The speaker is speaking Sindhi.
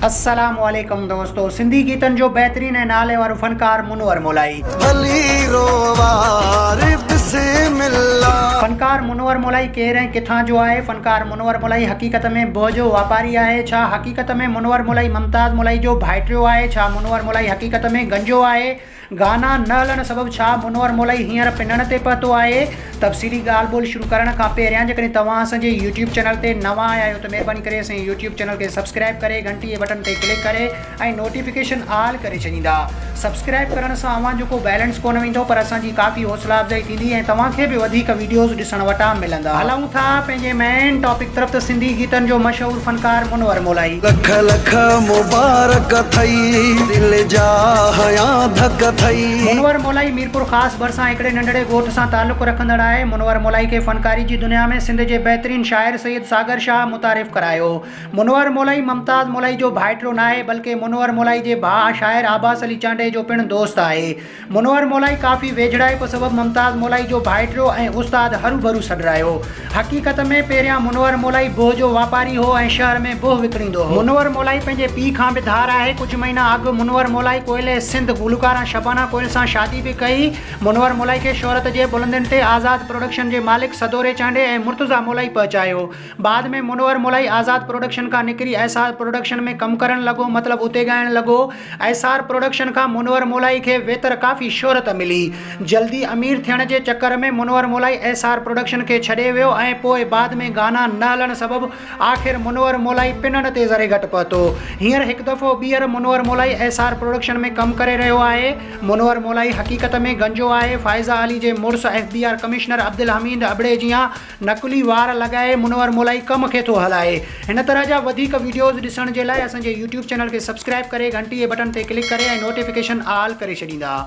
السلام عليڪم دوستو سنڌي گيتن جو بهترين ۽ نالي وارو فنڪار منور مولائي. ڀلي رووار بسم الله. فنڪار منور مولائي ڪير ۽ ڪٿان جو آهي؟ فنڪار منور مولائي حقيقت ۾ بوء جو واپاري آهي؟ ڇا حقيقت ۾ منور مولائي ممتاز مولائي جو ڀائٽيو آهي؟ ڇا منور مولائي حقيقت ۾ گنجو آهي؟ گانا نه هلڻ سبب ڇا منور مولائي هينئر پنڻ تي پهتو آهي؟ تفصيلي ڳالهه ٻولهه شروع ڪرڻ کان پهريان جيڪڏهن توهان اسان جي يوٽيوب چينل تي نوان آيا آهيو ته مهرباني ڪري اسان جي يوٽيوب چينل کي سبسڪرائب ڪري گهنٽي جي بٽڻ تي ڪلڪ ڪري ۽ نوٽيفڪيشن آل ڪري ڇڏيندا سبسڪرائب ڪرڻ سان اوهان جو ڪو بيلنس ڪونه ويندو پر اسان جي ڪافي حوصلا افزائي ٿيندي ۽ توهان کي به وڌيڪ ويڊيوز ڏسڻ وٽان ملندا. هلون ٿا پنهنجي مين ٽاپڪ طرف ته سنڌي گيتن جو مشهور فنڪار منور مولائي. لک لک مبارڪ اٿئي دل جا هيان ڌڪ اٿئي. منور مولائي ميرپور خاص ڀرسان هڪڙي ننڍڙي ڳوٺ سان تعلق رکندڙ آهي. منور مولائي کي فنڪاري جي دنيا ۾ سنڌ جي بهترين شاعر سيد ساگر شاهه متعارف ڪرايو. منور مولائي ممتاز مولائي جو ڀائٽرو ناهي بلڪه منور مولائي جي ڀاء شاعر عباس علي چانڊئي جو پڻ دوست آهي. منور مولائي ڪافي ويجهڙائپ سبب ممتاز مولائي جو ڀائٽيو ۽ استاد هروڀرو سڏرايو. حقيقت ۾ پهريان منور مولائي بوهه جو واپاري هو ۽ شهر ۾ بوهه وڪڻيندو هو. منور مولائي پنهنجي پيء کان به ڌار آهي. ڪجهه مهينا اڳ منور مولائي ڪوئل سنڌ گلوڪاره شبانه ڪوئل سان شادي به ڪئي. منور مولائي کي شهرت جي بلندين تي آزاد پروڊڪشن جي مالڪ سدوري چانڊي ۽ مرتضيٰ مولائي پهچايو. بعد ۾ منور ملائي آزاد پروڊڪشن کان نڪري ايسار پروڊڪشن ۾ ڪم ڪرڻ لڳو مطلب اتي ڳائڻ لڳو ايسار پروڊڪشن کان منور ملائي کي ويتر ڪافي شهرت ملي جلدي امير ٿيڻ جي چڪر ۾ منور ملائي ايسار پروڊڪشن کي ڇڏي ويو ۽ پوء بعد ۾ گانا نه هلڻ سبب آخر منور ملائي پنن تي ذري گهٽ پهتو هينئر هڪ دفعو ٻيهر منور ملائي ايسار پروڊڪشن ۾ ڪم ڪري رهيو آهي منور ملائي حقيقت ۾ گنجو آهي فائزه علي جي مڙس F B R commissioner Abdul Hamid ابڙي جيان نقلي وار لڳائي منور مولائي ڪم کي ٿو هلائي. هن طرح جا وڌيڪ وڊيوز ڏسڻ جي لاء اسان جي يوٽيوب چينل کي سبسڪرائب ڪري گهنٽي جي بٽڻ تي ڪلڪ ڪري ۽ نوٽيفڪيشن آل ڪري ڇڏيندا.